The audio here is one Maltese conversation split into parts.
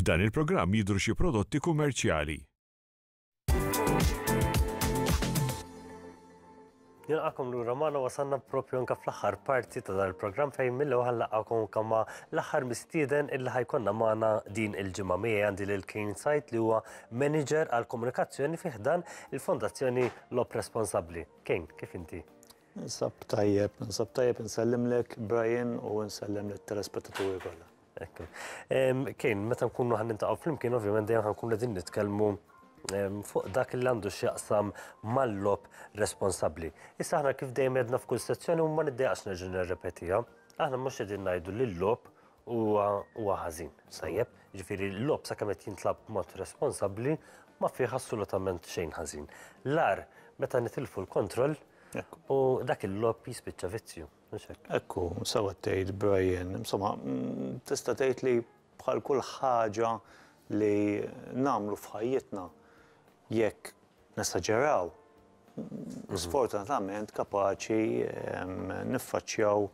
F'dan il-programm jidhru xi prodotti kummerċjali. Nilqakom lura magħna wasalna propju anke fl-aħħar parti ta' dan il-programm fejn mill ewwel laqgħakom kama l-aħħar mistieden illi ħajkonna magħna din il-ġimgħa miegħi għandi lil Kane Sajt li huwa manager għal komunikazzjoni fih dan il-Fondazzjoni Logħob responsabbli. Kane, kif inti? Ninsab tajjeb, ninsab tajjeb insellimlek Brian u nsellem lit-telespettaturi kollha. Ekku. Kane, meta nkunu ħan nintaqgħu flimkien ovvjament dejjem ħankun qegħdin nitkellmu fuq dak li għandu x'jaqsam mal-lob responsabbli. Issa aħna kif dejjem għedna f'kull sezzjoni u ma niddejaqx nerġa' nirrepetiha, aħna mhux qegħdin ngħidu li l-lob Huwa huwa ħażin, tajjeb? Jiġifieri l-logħob sakemm qed jintlagħab b'mod responsabbli ma fih assolutament xejn ħażin. L-agħar meta nitilfu l-kontroll u dak il-logħob jispiċċa vizzju, mhux hekk? Hekk hu, sewwa qed tgħid Brian. Insomma, tista' tgħid li bħal kull ħaġa li nagħmlu f'ħajjitna jekk nesaġeraw, sfortunatament kapaċi niffaċċjaw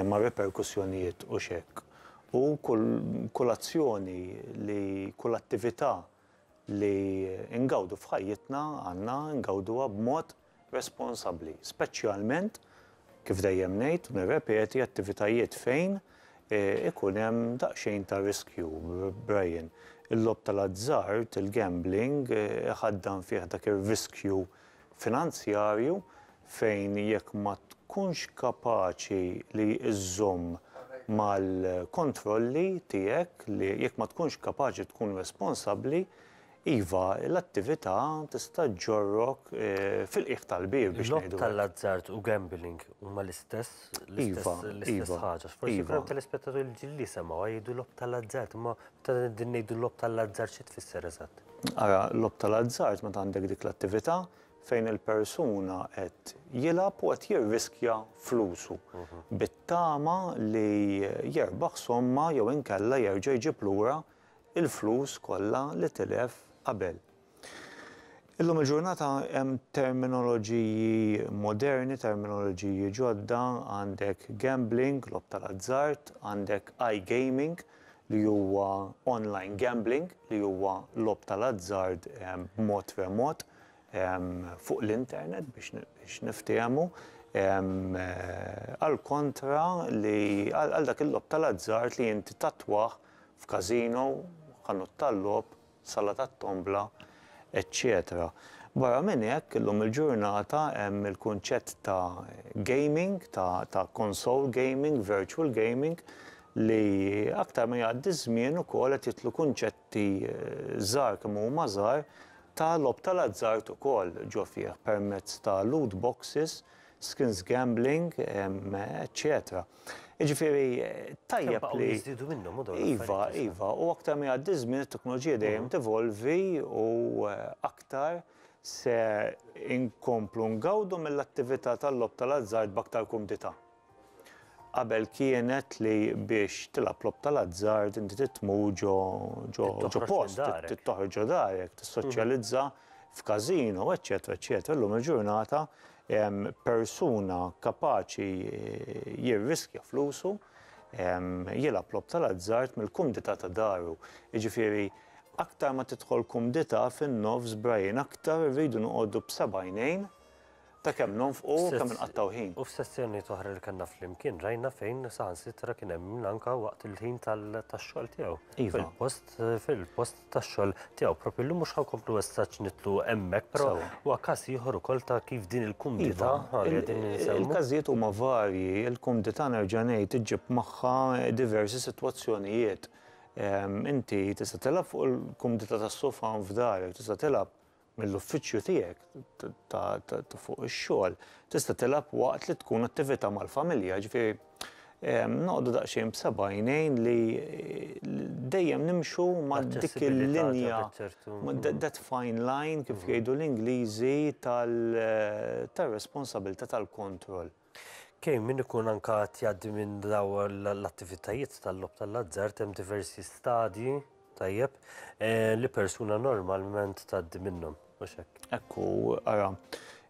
ma' riperkussjonijiet u x'hekk. U kull kull azzjoni li kull attività li ngawdu f'ħajjitna għandna ngawduha b'mod responsabbli, speċjalment Kif dejjem ngħid u nirrepeti, attivitajiet fejn ikun hemm daqsxejn ta' riskju, Brian. Il-logħob tal-azzard, il-gambling, iħaddan fih dak ir-riskju finanzjarju fejn jekk ma tkunx kapaċi li iżżomm mal-kontrolli tiegħek, li jekk ma tkunx kapaċi tkun responsabbli, Iva, l-attività tista' ġġorrok fil-qiegħ tal-bieb biex ngħidu hekk. Logħob tal-azzard u gambling huma l-istess, l-istess ħaġa. Forsi jkun hemm telespettaturi ġdid li jisemgħuha jgħidu logħob tal-azzard, imma meta qegħdin ngħidu logħob tal-azzard xi tfisser eżatt? Ara, logħob tal-azzard meta għandek dik l-attività fejn il-persuna qed jilgħab u qed jirriskja flusu bit-tama li jerbaħ somma jew inkella jerġa' jġib lura il-flus kollha li tilef qabel. Illum il-ġurnata hemm terminoloġiji moderni, terminoloġiji ġodda, għandek gambling, logħob tal-azzard, għandek iGaming li huwa online gambling li huwa logħob tal-azzard b'mod remot fuq l-internet biex niftiehmu għall-kontra li għal dak il-logħob tal-azzard li inti tattwah f'casino, ħanut tal-logħob, sala tat-tombla, eċċetera. Barra minn hekk, illum il-ġurnata hemm il-kunċett ta' gaming, ta' ta' console gaming, virtual gaming, li aktar ma jgħaddi ż-żmien ukoll qed jidħlu kunċetti żgħar kemm huma żgħar ta' logħob tal-azzard ukoll ġo fih permezz ta' loot boxes, skins gambling, eċċetera. Jiġifieri tajjeb li. Jiżdiedu minnhom u dawn. Iva, iva, u aktar ma jgħaddi ż-żmien it-teknoloġija dejjem tevolvi u aktar se nkomplu ngawdu mill-attività tal-logħob tal-azzard b'aktar kumdità. Qabel kienet li biex tilgħab logħob tal-azzard inti trid tmur ġo ġo ġo post, trid toħroġ ġo darek, tissoċjalizza f'każino, eċċetera, eċċetera. Illum il-ġurnata persuna kapaċi jirriskja flusu, jilgħab logħob tal-azzard mill-kumdità ta' daru. Jiġifieri aktar ma tidħol kumdità fin-nofs Brian aktar irridu noqogħdu b'seba' għajnejn ta' kemm nonfqu u kemm inqattgħu ħin. U f'sessjonijiet oħra li kellna flimkien rajna fejn saħansitra kien hemm min anke waqt il-ħin tax-xogħol tiegħu fil-post fil-post tax-xogħol tiegħu. Proprju llum mhux ħa nkomplu messaġġ nitlu hemmhekk, però huwa każ ieħor ukoll ta' kif din il-kumdità iva, li qegħdin insemmu. Il-każijiet huma varji, il-kumdità nerġa' ngħid iġġib magħha diversi sitwazzjonijiet. Ehm, inti tista' tilgħab fuq il-kumdità tas-sofan f'darek, tista' tilgħab mill-uffiċċju tiegħek ta' fuq ix-xogħol tista' tilgħab waqt li tkun attività mal-familja, ġifieri noqogħdu daqsxejn b'seba' għajnejn li dejjem nimxu ma' dik il-linja, that fine line kif jgħidu l-Ingliżi tar-responsabilità tal-kontroll. Kejn min ikun anke qed jgħaddi minn daw l-attivitajiet tal-logħob tal-azzard hemm diversi stadji, tajjeb, li persuna normalment tgħaddi minnhom, mhux hekk? Hekk hu, ara,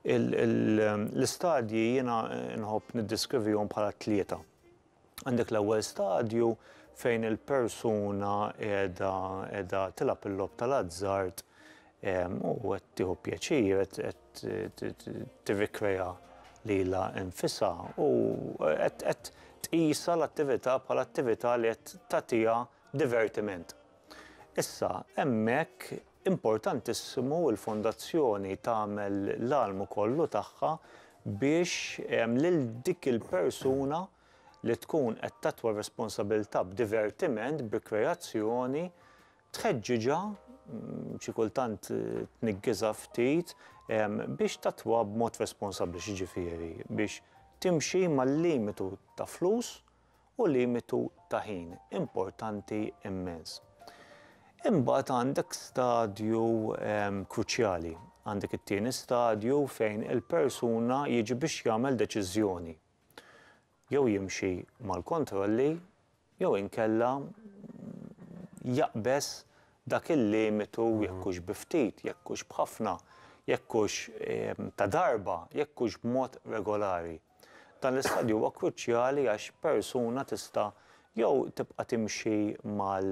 l-istadji jiena nħobb niddiskrivihom bħala tlieta. Għandek l-ewwel stadju fejn il-persuna qiegħda qiegħda tilgħab il-logħob tal-azzard u qed tieħu pjaċir, qed tirrikrea lilha nfisha u qed tqisha l-attività bħala attività li qed tagħtiha divertiment. Issa, hemmhekk Importantissimu l-Fondazzjoni tagħmel l-almu kollu tagħha biex lil dik il-persuna li tkun qed tattwa r-responsabilità b'divertiment, b'rikreazzjoni, tħeġġiġha, xi kultant tniggiżha ftit, biex tattwa b'mod responsabbli, x'jiġifieri, biex timxi mal-limitu ta' flus, u limitu ta' ħin importanti immens. Imbagħad għandek stadju ehm, kruċjali, għandek it-tieni stadju fejn il-persuna jiġi biex jagħmel deċiżjoni. Jew jimxi mal-kontrolli jew inkella jaqbeż dak il-limitu mhm. jekk hux bi ftit, jekk hux b'ħafna, jekk hux ehm, ta' darba, jekk hux b'mod regolari. Dan l-istadju huwa kruċjali għax persuna tista' jew tibqa' timxi mal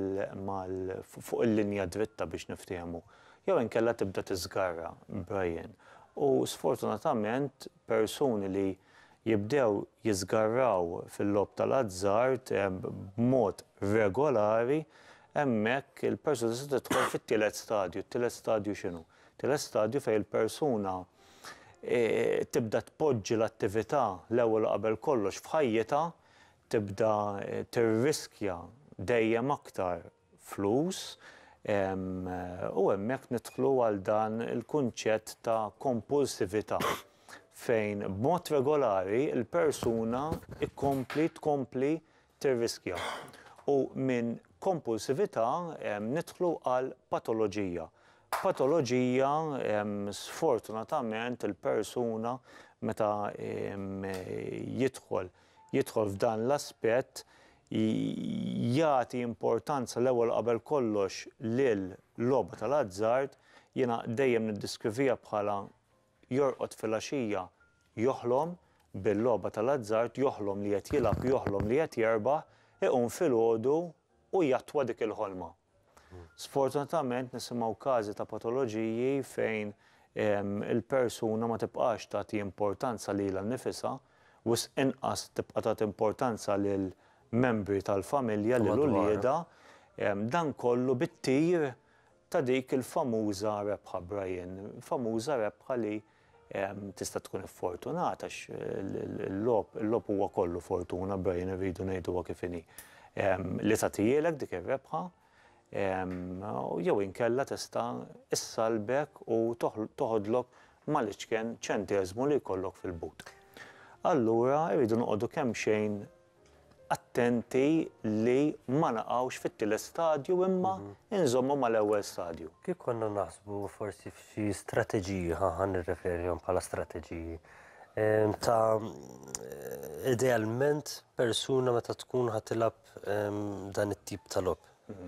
mal fuq il-linja dritta biex niftiehmu, jew inkella tibda tiżgarra, Brian. U sfortunatament persuni li jibdew jiżgarraw fil-logħob tal-azzard b'mod regolari, hemmhekk il-persuna tista' tidħol fit-tielet stadju. It-tielet stadju x'inhu? It-tielet stadju fejn il-persuna tibda tpoġġi l-attività l-ewwel u qabel kollox f'ħajjitha, tibda tirriskja dejjem aktar flus u hemmhekk nidħlu għal dan il-kunċett ta' kompulsività fejn b'mod regolari l-persuna tkompli tkompli tirriskja, u minn kompulsività nidħlu għal patoloġija. Patoloġija sfortunatament il-persuna meta jidħol jidħol f'dan l-aspett jagħti importanza l-ewwel qabel kollox lil logħba tal-azzard, jiena dejjem niddiskrivija bħala Jorqod filgħaxija joħlom bil-logħba tal-azzard, joħlom li qed jilgħab, joħlom li qed jerbaħ, iqum filgħodu u jattwa dik il-ħolma. Sfortunatament nisimgħu każi ta' patoloġiji fejn il-persuna ma tibqax tagħti importanza lilha nnifisha, wisq inqas tibqa' tagħti importanza lil membri tal-familja, lil uliedha, dan kollu bit-tir ta' dik il-famuża rebħa Brian, famuża rebħa li tista' tkun iffortunata għax il-logħob, il-logħob huwa kollu fortuna Brian irridu ngħiduha kif inhi. Li tagħtihielek dik ir-rebħa jew inkella tista' issallbek u toħodlok mal-iċken ċenteżmu li jkollok fil-but. Allura irridu noqogħdu kemxejn attenti li ma naqgħux fit-tielet stadju imma inżommu mal-ewwel stadju. Kif konna naħsbu forsi f'xi strateġiji, ħa ħa nirreferihom bħala strateġiji, ta' idealment persuna meta tkun ħa tilgħab dan it-tip ta' logħob.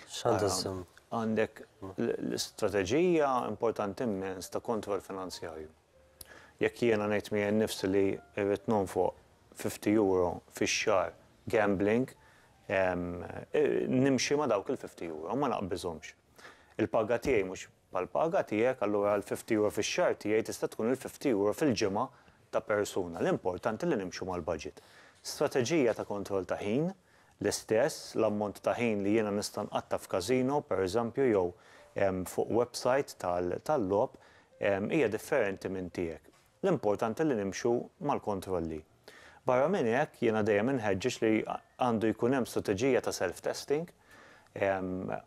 X'għandha żżomm? Għandek l-istrateġija importanti mmens ta' kontroll finanzjarju. Jekk jiena ngħid miegħi nnifsi li rrid nonfoq fifty euro fix-xahar gambling, nimxi ma' dawk il-fifty euro, ma naqbiżhomx. Il-paga tiegħi mhux bħall-paga tiegħek, allura l-fifty euro fix-xahar tiegħi tista' tkun il-fifty euro fil-ġimgħa ta' persuna. L-importanti li nimxu mal-baġit. Strateġija ta' kontroll ta' ħin L-istess, l-ammont ta' ħin li jiena nista' nqatta' f'każino, pereżempju, jew fuq websajt tal-logħob, hija differenti minn tiegħek. L-importanti li nimxu mal-kontrolli. Barra minn hekk, jiena dejjem inħeġġeġ li għandu jkun hemm strateġija ta' self-testing,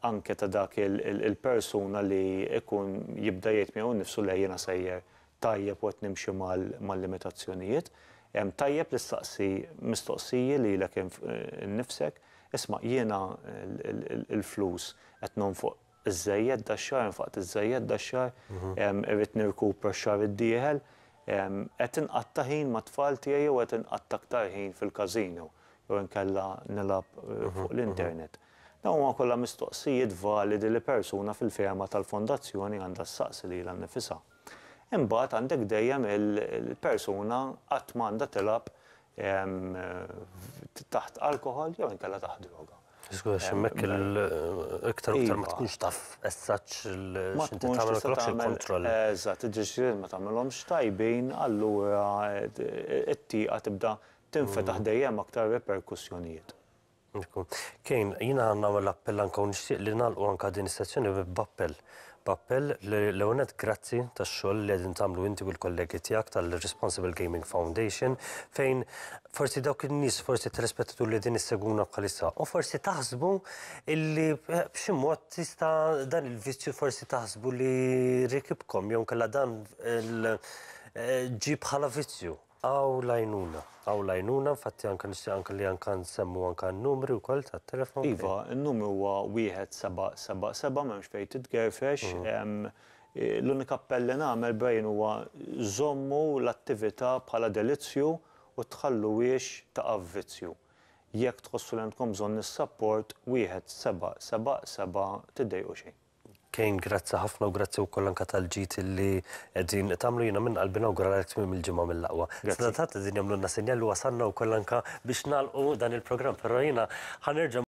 anke ta' dak il-persuna li jkun jibda jgħid miegħu nnifsu le jiena sejjer tajjeb u qed nimxi mal-limitazzjonijiet, tajjeb li ssaqsi mistoqsiji lilek innifsek, 'Isma', jiena l-flus qed nonfoq iżżejjed dax-xahar, nfaqt iżżejjed dax-xahar, irrid nirkupra x-xahar id-dieħel, qed inqatta' ħin mat-tfal tiegħi jew qed inqatta' aktar ħin fil-każino jew inkella nilgħab fuq l-internet? Dawn huma kollha mistoqsijiet validi li persuna fil-fehma tal-Fondazzjoni għandha ssaqsi lilha nnifisha. Imbagħad għandek dejjem il-persuna qatt ma għandha tilgħab taħt alkoħol jew inkella taħt droga. Żgur għax hemmhekk iktar u iktar ma tkunx taf eżatt x'inti tagħmel u x'ikkontroll. Eżatt, id-deċiżjonijiet ma tagħmilhomx tajbin, allura t-tieqa tibda tinfetaħ dejjem aktar reperkussjonijiet. Kane, jiena nagħmel appell anka u nixtieq li nagħlqu anka din is-sezzjoni b'appell. B'appell li l-ewwel nett grazzi tax-xogħol li qegħdin tagħmlu inti u l-kollegi tiegħek tal-Responsible Gaming Foundation fejn forsi dawk in-nies forsi telespettatur li qegħdin issegwuna bħalissa u forsi taħsbu illi b'xi mod tista' dan il-vizzju forsi taħsbu li rikibkom jew inkella dan ġie bħala vizzju. Hawn l-għajnuna, hawn l-għajnuna, infatti anke nixtieq anke li anke nsemmu anke n-numri wkoll tat-telefon. Iva, n-numru huwa wieħed seba' seba' seba' m'hemmx fejn titgerfex. L-unika appell li nagħmel, Brian, huwa żommu l-attività bħala delizzju u tħalluhiex taqa' f'vizzju. Jekk tħossu li għandkom bżonn is-sapport, wieħed seba' seba' seba' tiddejqu xejn. Kane grazzi ħafna u grazzi wkoll anke tal-ġid li qegħdin tagħmlu jiena minn qalbi nawguralek tmiem il-ġimgħa mill-aqwa. Sadattant qegħdin jagħmlulna sinjal li wasalna wkoll anke biex nagħlqu dan il-programm, però jiena ħa nerġa'